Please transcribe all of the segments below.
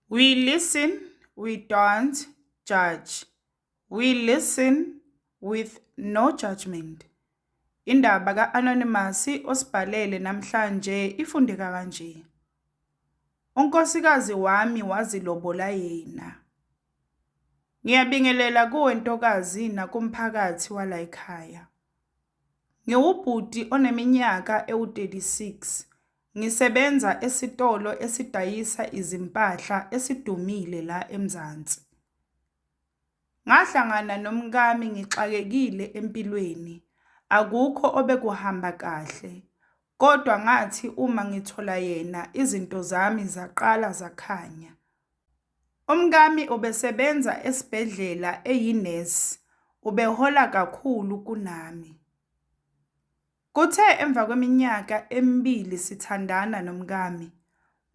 We listen, we don't judge, we listen with no judgement. Indaba ka-Anonymous osibhalele namhlanje ifundeka kanje. Unkosikazi wami wazilobola yena. Ngiyabingelela kuwe ntokazi nakumphakathi walayikhaya. Ngiwubhuti oneminyaka ewu-36 Ngisebenza esitolo esidayisa izimpahla esidumile la eMzansi. Ngahlangana nomkami ngixakekile empilweni, akukho obekuhamba kahle. Kodwa ngathi uma ngithola yena izinto zami zaqala zakhanya. Umkami ubesebenza esibhedlela eyinesi, ubehola kakhulu kunami. Kuthe emva kweminyaka emibili sithandana nomkami,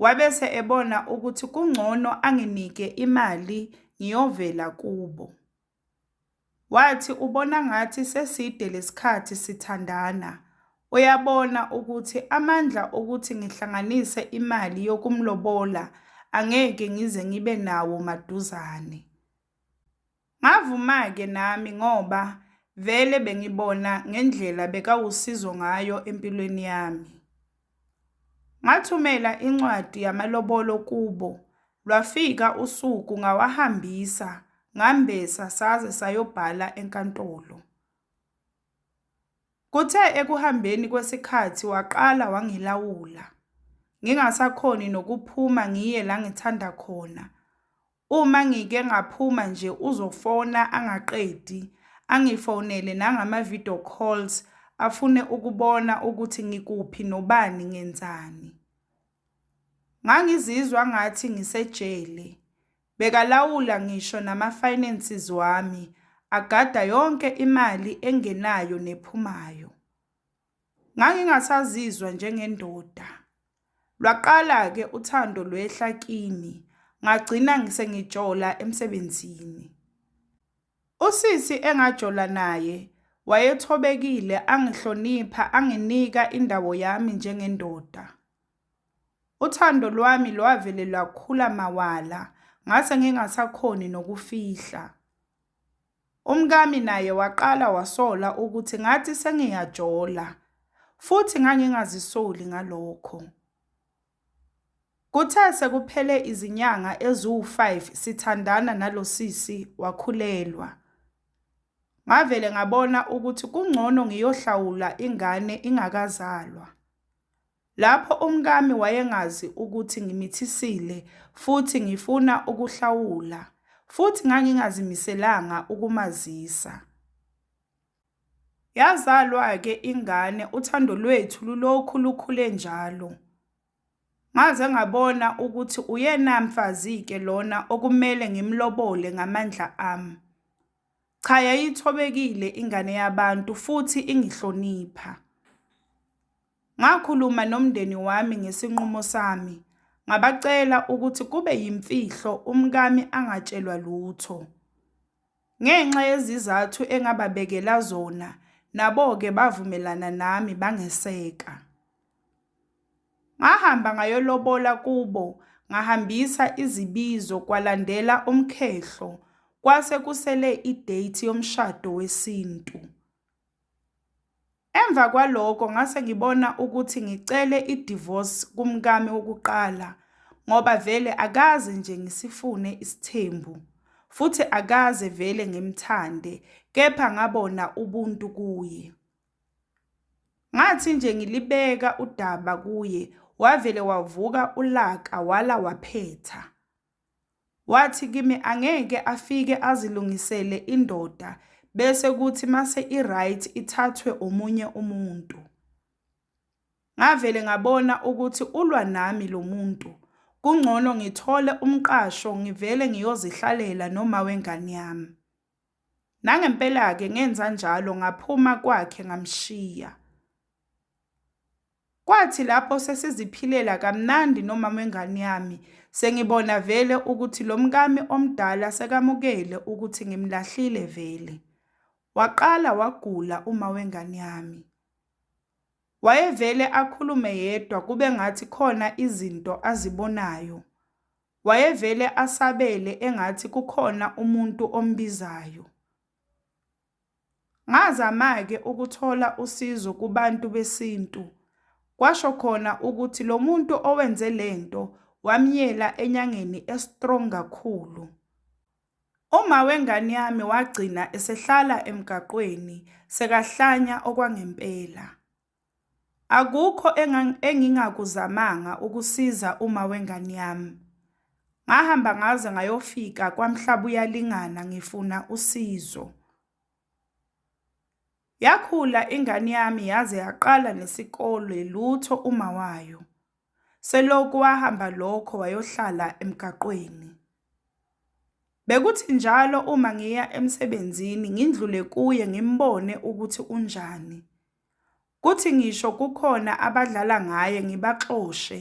wabese ebona ukuthi kungcono anginike imali ngiyovela kubo. Wathi ubona ngathi seside lesikhathi sithandana, uyabona ukuthi amandla okuthi ngihlanganise imali yokumlobola angeke ngize ngibe nawo maduzane. Ngavuma-ke nami ngoba vele bengibona ngendlela bekawusizo ngayo empilweni yami. Ngathumela incwadi yamalobolo kubo, lwafika usuku ngawahambisa, ngambesa saze sayobhala enkantolo. Kuthe ekuhambeni kwesikhathi waqala wangilawula, ngingasakhoni nokuphuma ngiye la ngithanda khona, Uma ngike ngaphuma nje uzofona angaqedi, angifonele nangama video calls afune ukubona ukuthi ngikuphi nobani ngenzani. Ngangizizwa ngathi ngisejele. Bekalawula ngisho nama finances wami, agada yonke imali engenayo nephumayo. Ngangingasazizwa njengendoda. Lwaqala-ke uthando lwehla kimi, ngagcina sengijola emsebenzini. Usisi engajola naye wayethobekile, angihlonipha, anginika indawo yami njengendoda. Uthando lwami lwavele lwakhula mawala, ngase ngingasakhoni nokufihla. Umkami naye waqala wasola ukuthi ngathi sengiyajola futhi ngangingazisoli ngalokho. Kuthe sekuphele izinyanga eziwu-5 sithandana nalo sisi wakhulelwa. Ngavele ngabona ukuthi kungcono ngiyohlawula ingane ingakazalwa. Lapho umkami wayengazi ukuthi ngimithisile futhi ngifuna ukuhlawula, futhi ngangingazimiselanga ukumazisa. Yazalwa-ke ingane, uthando lwethu lulokhu lukhule njalo. Ngaze ngabona ukuthi uyena mfazi-ke lona okumele ngimlobole ngamandla ami. Cha yayithobekile ingane yabantu futhi ingihlonipha. Ngakhuluma nomndeni wami ngesinqumo sami, ngabacela ukuthi kube yimfihlo umkami angatshelwa lutho. Ngenxa yezizathu engababekela zona, nabo-ke bavumelana nami bangeseka. Ngahamba ngayolobola kubo, ngahambisa izibizo kwalandela umkhehlo, kwase kusele i-date yomshado wesintu. Emva kwaloko ngase ngibona ukuthi ngicele i-divorce kumkami wokuqala ngoba vele akaze nje ngisifune isithembu futhi akaze vele ngimthande kepha ngabona ubuntu kuye. Ngathi nje ngilibeka udaba kuye wavele wavuka ulaka wala waphetha. Wathi kimi angeke afike azilungisele indoda bese kuthi mase i-right ithathwe omunye umuntu. Ngavele ngabona ukuthi ulwa nami lo muntu. Kungcono ngithole umqasho ngivele ngiyozihlalela noma wengane yami. Nangempela-ke ngenza njalo ngaphuma kwakhe ngamshiya. Kwathi lapho sesiziphilela kamnandi nomama wengane yami, sengibona vele ukuthi lo mkami omdala sekamukele ukuthi ngimlahlile vele. Waqala wagula uma wengane yami. Wayevele akhulume yedwa kube ngathi khona izinto azibonayo. Wayevele asabele engathi kukhona umuntu ombizayo. Ngazama-ke ukuthola usizo kubantu besintu, kwasho khona ukuthi lo muntu owenze le nto wamyela enyangeni e-strong kakhulu. Uma wengane yami wagcina esehlala emgaqweni sekahlanya okwangempela. Akukho engingakuzamanga ukusiza uma wengane yami. Ngahamba ngaze ngayofika kwaMhlabuyalingana ngifuna usizo. Yakhula ingane yami yaze yaqala nesikole lutho uma wayo. Selokhu wahamba lokho wayohlala emgaqweni. Bekuthi njalo uma ngiya emsebenzini ngindlule kuye ngimbone ukuthi unjani. Kuthi ngisho kukhona abadlala ngaye ngibaxoshe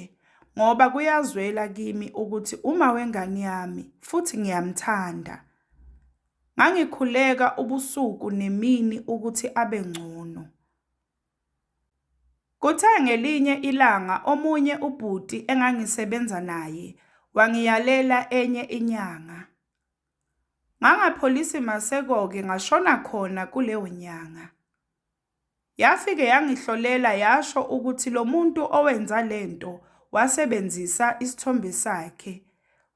ngoba kuyazwela kimi ukuthi uma wengane yami futhi ngiyamthanda. Ngangikhuleka ubusuku nemini ukuthi abe ngcono. Kuthe ngelinye ilanga omunye ubhuti engangisebenza naye wangiyalela enye inyanga. Ngangapholisi maseko-ke ngashona khona kuleyo nyanga. Yafike yangihlolela yasho ukuthi lo muntu owenza le nto wasebenzisa isithombe sakhe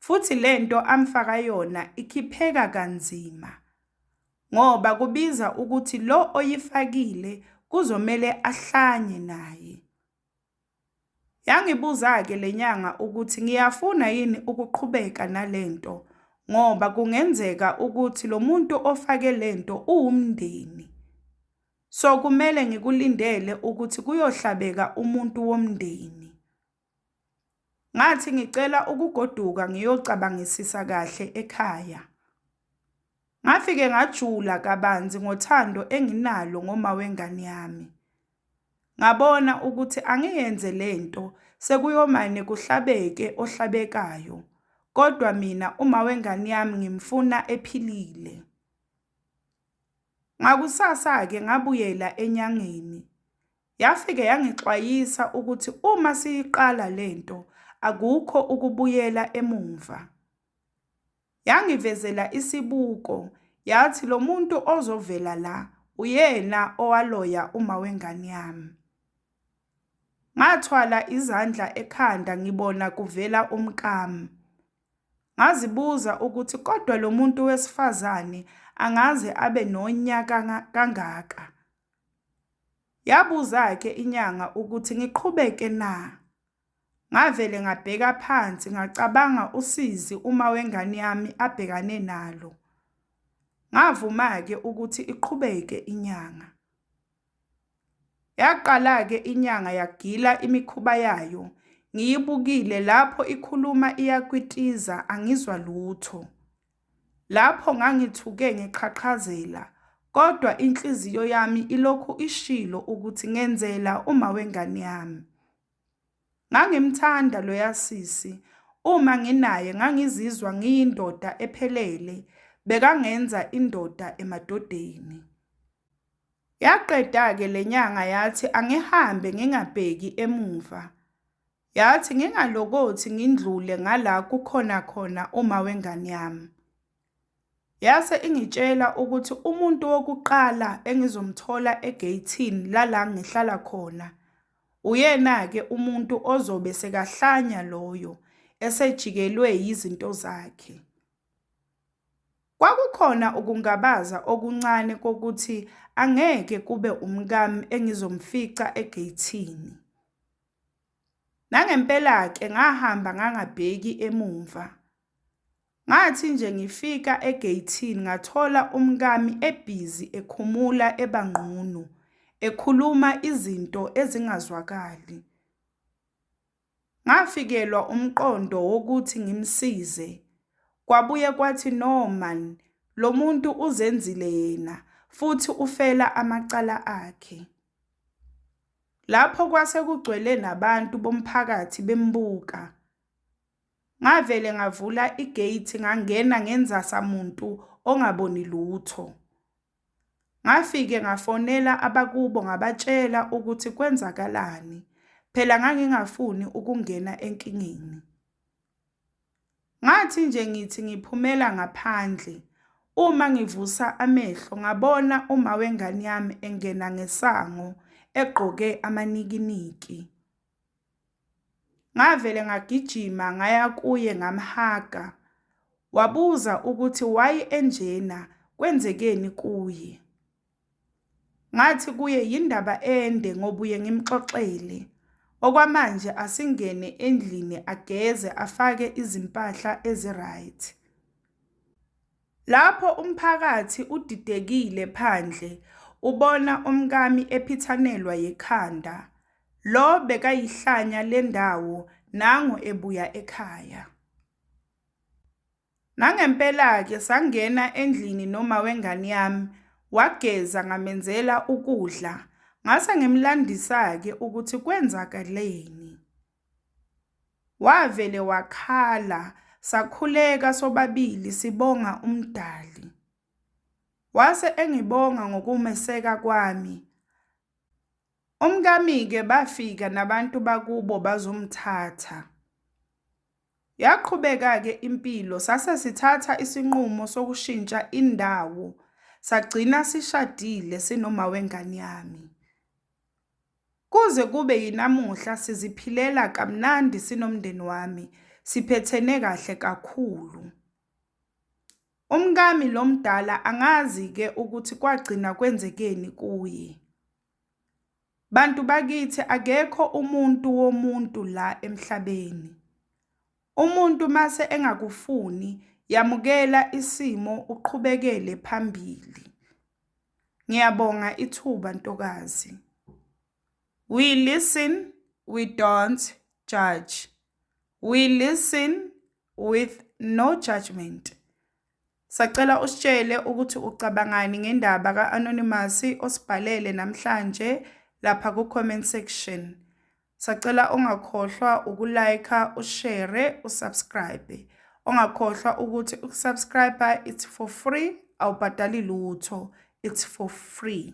futhi le nto amfaka yona ikhipheka kanzima ngoba kubiza ukuthi lo oyifakile kuzomele ahlanye naye. Yangibuza-ke le nyanga ukuthi ngiyafuna yini ukuqhubeka nale nto ngoba kungenzeka ukuthi lo muntu ofake le nto uwumndeni. So kumele ngikulindele ukuthi kuyohlabeka umuntu womndeni. Ngathi ngicela ukugoduka ngiyocabangisisa kahle ekhaya. Ngafike ngajula kabanzi ngothando enginalo ngoma wengane yami. Ngabona ukuthi angiyenze lento sekuyomane kuhlabeke ohlabekayo. Kodwa mina uma wengane yami ngimfuna ephilile. Ngakusasa-ke ngabuyela enyangeni. Yafike yangixwayisa ukuthi uma siyiqala le nto akukho ukubuyela emumva. Yangivezela isibuko yathi lo muntu ozovela la uyena owaloya uma wengane yami. Ngathwala izandla ekhanda ngibona kuvela umkami. Ngazibuza ukuthi kodwa lo muntu wesifazane angaze abe nonya kangaka. Yabuza-ke inyanga ukuthi ngiqhubeke na? Ngavele ngabheka phansi ngacabanga usizi uma wengane yami abhekane nalo. Ngavuma-ke ukuthi iqhubeke inyanga. Yaqala-ke inyanga yagila imikhuba yayo ngiyibukile lapho ikhuluma iyakwitiza angizwa lutho. Lapho ngangithuke ngiqhaqhazela kodwa inhliziyo yami ilokhu ishilo ukuthi ngenzela umawengane yami. Ngangimthanda loya sisi, uma nginaye ngangizizwa ngiyindoda ephelele, bekangenza indoda emadodeni. Yaqeda-ke le nyanga yathi angihambe ngingabheki emuva. Yathi ngingalokothi ngindlule ngala kukhona khona uma wengane yami. Yase ingitshela ukuthi umuntu wokuqala engizomthola egeyithini lala ngihlala khona uyena-ke umuntu ozobe sekahlanya loyo esejikelwe yizinto zakhe. Kwakukhona ukungabaza okuncane kokuthi angeke kube umkami engizomfica egeyithini. Nangempela-ke ngahamba ngangabheki emumva. Ngathi nje ngifika egeyithini ngathola umkami ebhizi ekhumula ebangqunu, ekhuluma izinto ezingazwakali. Ngafikelwa umqondo wokuthi ngimsize. Kwabuye kwathi no man, lo muntu uzenzile yena futhi ufela amacala akhe. Lapho kwase kugcwele nabantu bomphakathi bembuka. Ngavele ngavula i-gate ngangena ngenzasa muntu ongaboni lutho. Ngafike ngafonela abakubo ngabatshela ukuthi kwenzakalani, phela ngangingafuni ukungena enkingeni. Ngathi nje ngithi ngiphumela ngaphandle uma ngivusa amehlo ngabona uma wengane yami engena ngesango egqoke amanikiniki. Ngavele ngagijima ngaya kuye ngamhaga. Wabuza ukuthi why enjena kwenzekeni kuye. Ngathi kuye yindaba ende ngobuye ngimxoxele. Okwamanje asingene endlini ageze afake izimpahla ezi-right. Lapho umphakathi udidekile phandle ubona umkami ephithanelwa yikhanda. Lo bekayihlanya lendawo nangu ebuya ekhaya. Nangempela-ke sangena endlini noma wengane yami, wageza ngamenzela ukudla, ngase ngimlandisa-ke ukuthi kwenzakaleni. Wavele wakhala, sakhuleka sobabili sibonga uMdali. Wase engibonga ngokumeseka kwami. Umkami-ke bafika nabantu bakubo bazomthatha. Yaqhubeka-ke impilo sase sithatha isinqumo sokushintsha indawo sagcina sishadile sinoma wengane yami. Kuze kube yinamuhla siziphilela kamnandi sinomndeni wami, siphethene kahle kakhulu. Umkami lo mdala angazi ke ukuthi kwagcina kwenzekeni kuye. Bantu bakithi akekho umuntu womuntu la emhlabeni. Umuntu mase engakufuni yamukela isimo uqhubekele phambili. Ngiyabonga ithuba ntokazi. We listen, we don't judge. We listen, with no judgment. Sacela usitshele ukuthi ucabangani ngendaba ka-Anonymous osibhalele namhlanje lapha ku-comment section. Sacela ungakhohlwa ukulike, ushare, usubscribe. Ongakhohlwa ukuthi ukusubscribe it's for free, awubhadali lutho. It's for free.